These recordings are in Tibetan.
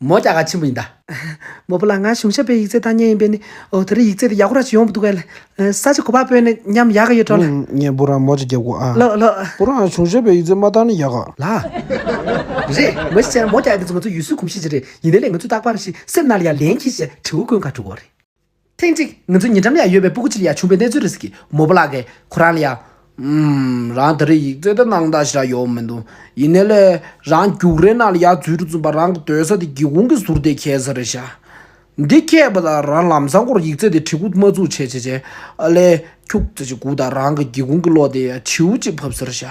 མོ་སྐྱག་ཁ་ཆེན་པོ་ཡིན་ད། མོ་བུ་ལ་ང་གཞུང་ཞབས་པའི་ཡིག་རྩལ་ལྟ་ཉན་ཡིན་པས་ནི་འོ་ད་རི་ཡིག་རྩལ་དེ་ཡག་པོ་ར་ཅིག་ཡོང་བུ་འདུག་བས་ལ་ས་ཅིག་གོ་པ་པོས་ནི་ཉམས་ཡག་གི་ཡོད་འགྲོ་ལ། ངས་བུ་རང་མོ་ཅིག་རྒྱབ་གོ་ཨ། ལོ་ལོ། བུ་རང་གཞུང་ཞབས་པའི་ཡིག་རྩལ་མ་བཏང་ནི་ཡག་ག། ལ། རེད། མོ་ཞིག་བྱས་ན་མོ་སྐྱག་འདི་ཚོ་ང་ཚོའི་ཡུལ་སྲོལ་གོམས་གཤིས་ཅིག་རེད་ཡིན་ན་ལས་ང་ཚོས་རྟག་པར་ཞིག་སེམས་ནང་ལ་ཡང་ལེན་གྱིས་ཞེས་དྲི་བོ་བཀོད་འགའ་འདྲུག་གོ་རེད། ཐེངས་གཅིག་ང་ཚོའི་ཉེ་འགྲམ་ཡང་ཡོད་པའི་སྤུ་གུ་ཆེ་ལ་ཡང་ཆུང་བའི་གནས་ཚུལ་རེ་ཟིག་གིས་མོ་པོ་ལགས་ཀྱིས་ཁོ་རང་ལ་ཡང། ཨུམ། རང་དེ་རིང་ཡིག་རྩལ་དུ་གནང་སྟངས་ཞིག་རག་ཡོད་མི་འདུག་ཡིན་ནའི་ལེ། རང་རྒྱུགས་རའི་ནང་ལ་ཡར་འཛུལ་རུ་འཛུལ་བར་རང་གི་སྡོད་ས་དེ་སྒེའུ་ཁུང་གི་ཟུར་དེའི་ཁྱད་གསར་རེད་ཤག། འདི་ཁྱད་པ་དང་རང་ལམ་བཟང་སྐོར་ཡིག་རྩལ་དེ་བྲིས་སྐུ་མ་བཙུགས་ཆེ་ཆེ་བྱས། ཨ་ལེ། ཁྱུག་ཙེ་ཞིག་སྒུག་དང་རང་གི་སྒེའུ་ཁུང་གི་གློག་དེ་ཡང་བྱིའུ་གཅིག་ཕབ་ཟེར་ཤག།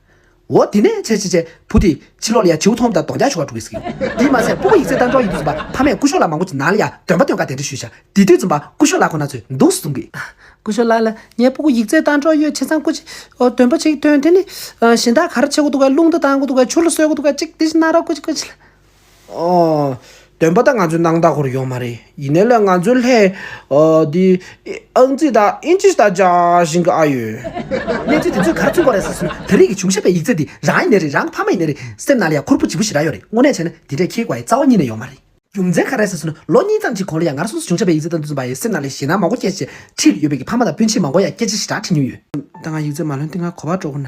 འོ་དེ་ནས་ཆེ་ཆེ་ཆེ་བུ་དེ་ཕྱི་ལོག་ལ་ཡ་བྱིའུ་ཐོང་དང་དོང་རྒྱག་ཆོ་ག་འགྲོ་གི་ཟིག་ཡོད་དེ་མ་ཟད་སྤུ་བོ་ཡིག་རྩེད་ལྟ་འགྲོ་ཡི་འདུག་འཛུམ་པ་ཕ་མས་སྐུ་ཤོག་ལ་མང་པོ་ཅིག་ནང་ལ་ཡ་འདོན་པ་འདོན་ག་དེ་འདྲ་ཞུས་ཤག་དེ་དུས་འཛུམ་པ་སྐུ་ཤོག་ལ་ཁོ་ན་ཚོས་འདུག་གསུང་གི། སྐུ་ཤོག་ལགས་ལ་ངས་སྤུ་བོ་ཡིག་རྩེད་ལྟ་འགྲོ་ཡོད་ཆེ་ཚང་སྐུ་ཤོག་འདོན་པ་ཅིག་བཏོན་དེ་ནི་གཞན་དག་ག་རེ་བྱེད་དགོས་འདུག་ག་རླུང་རྟ་ལྡང་གི་འདུག་ག་ཆུ་ལ་གསོལ་གི་འདུག་ག་ཅིག་དེ་བཞིན་གནང་རོགས་སྐུ་ཤོག་སྐུ་ཤོག། སྟོན་པ་དང་ང་ཚོའི་ནང་ད་ཁོར་ཡོང་མ་རེད་ཡིན་ནའི་ལ་ང་ཚོའི་ལྷའི། འདི། ཨང་རྩིས་དག་ཨིན་ཅིས་དག་སྦྱར་བཞིན་གི་ཨ་ཡོད། གནས་ཚུལ་དེ་ཚོས་ག་རེ་མཚོན་པོ་རེད་ཟེར་སོང་ད་རེས་ཀྱི་བྱུང་ཤེས་པའི་ཡིག་རྩིས་འདི་རང་ཡིན་ནའི་རེད་རང་ཕ་མ་ཡིན་ནའི་རེད་སེམས་ནང་ལ་ཡང་ཁུར་པོ་ལྗིད་པོ་ཞིག་རག་ཡོད་རེད་དངོས་གནས་བྱས་ན་དེ་འདྲའི་ཁྱེད་དགའ་ཡི་རྩ་བ་གཉིས་ནས་ཡོང་མ་རེད། རྒྱུ་མཚན་ག་རེད་ཟེར་སོང་ལོ་གཉིས་ཙམ་གྱི་གོང་ལ་ཡང་ང་རང་སོ་སོ་བྱུང་ཤེས་པའི་ཡིག་རྩིས་དག་འདི་ཚོ་འབའ་ཡའི་སེམས་ནང་ལས་ཞེད་སྣང་མང་བོ་སྐྱེས་ཞེས་ཁྲིད་ཡོད་པའི་ཕ་མ་དང་སྤུན་མཆེད་མང་བོ་ཡང་སྐད་ཆ་ཞེ་དྲག་ཁྲིད་མྱོང་ཡོད། ད་ང་ཡིག་རྩིས་མ་ལོན་ཏེ་ང་གོ་བ་སྤྲོ་དགོས་ན།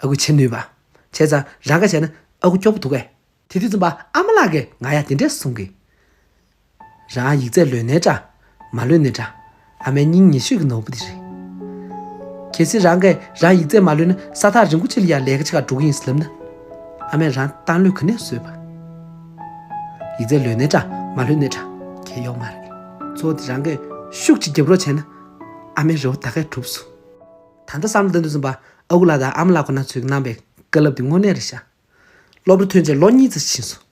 ཨ་ཁུ་བྱེད་ནུས་པ། བྱས་ཙང་རང་ག་བྱས་ན་ཨ་ཁུ་སྐྱོ་པོ་འདུག་གས། དེ་དུས་རྩོམ་པ་ཨ་མ་ལགས་ཀས་ང་ཡང་དེ་འདྲས་གསུངས་གི། རང་ཡིག་རྩལ་ལོན་ནའི་འདྲ། མ་ལོན་ནའི་འདྲ། ཨ་མའི་སྙིང་ཉེ་ཤོས་ཀྱི་ནོར་བུ་དེ་རེད། གལ་སྲིད་རང་གས་རང་ཡིག་རྩལ་མ་ལོན་ན་ས་ཐག་རིང་པོ་ཅི་ལ་ཡང་ལས་ཀ་ཆེ་ཁག་འགྲོ་གི་ཡིན་ཟེར་ལབ་ན། ཨ་མས་རང་བཏང་ལོས་ག་ནས་བཟོས་པ། ཡིག་རྩལ་ལོན་ནའི་འདྲ། མ་ལོན་ནའི་འདྲ། གས་གཡོག་མ་རེད། གཙོ་བོ་དེ་རང་གས་ཤུགས་ཀྱིས་རྒྱབ་རོགས་བྱས་ན། ཨ་མའི་རེ་བ་ད་གས་གྲུབ་སོང། ད་ལྟ་བསམ་བློ་བཏོན་དུས་རྩོམ་པ་ཨ་ཁུ་ལགས་དང་ཨ་མ་ལགས་ཁོ་ན་ཚོའི་གནང་བའི་བཀའ་སློབ་དེ་དངོས་གནས་རེད་ཤག། སློབ་གྲྭ་ཐོན་རྗེས་ལོ་གཉིས་རྩ་ཆེན་སོང།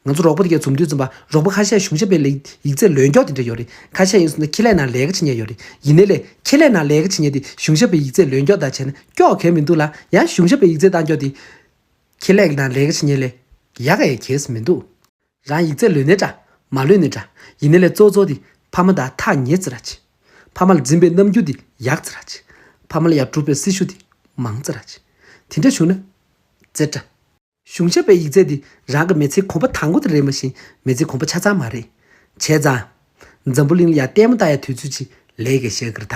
ང་ཚོ་རོགས་པ་དེ་གའི་འཛོམས་དུས་རྩོམ་པ་རོགས་པ་ཁ་ཤས་གཞུང་ཞབས་པའི་ལས་ཡིག་རྩེ་ལོས་མགྱོགས་དེ་འདྲ་ཡོད་རེད་ཁ་ཤས་ཡིན་སོང་ན་ཁེ་ལས་ནང་ལས་ཀ་བྱེད་ཉེ་ཡོད་རེད་ཡིན་ནའི་ལས་ཁེ་ལས་ནང་ལས་ཀ་བྱེད་ཉེ་དེ་གཞུང་ཞབས་པའི་ཡིག་རྩེ་ལོས་མགྱོགས་དག་བྱས་ན་ཀྱོག་གལ་མི་འདུག་ལ་ཡང་གཞུང་ཞབས་པའི་ཡིག་རྩེ་གཏང་མགྱོགས་དེ་ཁེ་ལས་ནང་ལས་ཀ་བྱེད་ཉེ་ལས་ཡག་གས་གལ་སུ་མི་འདུག། རང་ཡིག་རྩལ་ལོས་ནི་འདྲ། མ་ལོས་ནི་འདྲ། ཡིན་ནི་ལས་གཙོ་གཙོ་འདི། ཕ་མ་དང་ཐག་ཉེ་ཙི་ར་ཅི། ཕ་མ་ལ་འཛིན་པའི་རྣམ་འགྱུར་འདི། ཡག་ཙི་ར་ཅི། ཕ་མ་ལ་ཡག་སྒྲུབ་པའི་སྲི་ཞུ་འདི། མང་ཙི་ར་ཅི། དེ་འདྲ་བྱུང་ན། ཙེ་ཏྲ། གཞུང་ཞབས་པའི་ཡིག་རྩལ་འདི་རང་གི་མི་ཚེའི་གོམ་པ་དང་པོ་དེ་རེད་མ་གཞི་མི་ཚེའི་གོམ་པ་ཆ་ཚང་མ་རེད། བྱས་ཙང། འཛམ་བུ་གླིང་ལ་ཡང་ལྟད་མོ་ལྟ་ཡ་དུས་ཚོད་ཅིག་ལས་ཀའི་ཞག་གི་ར་ད།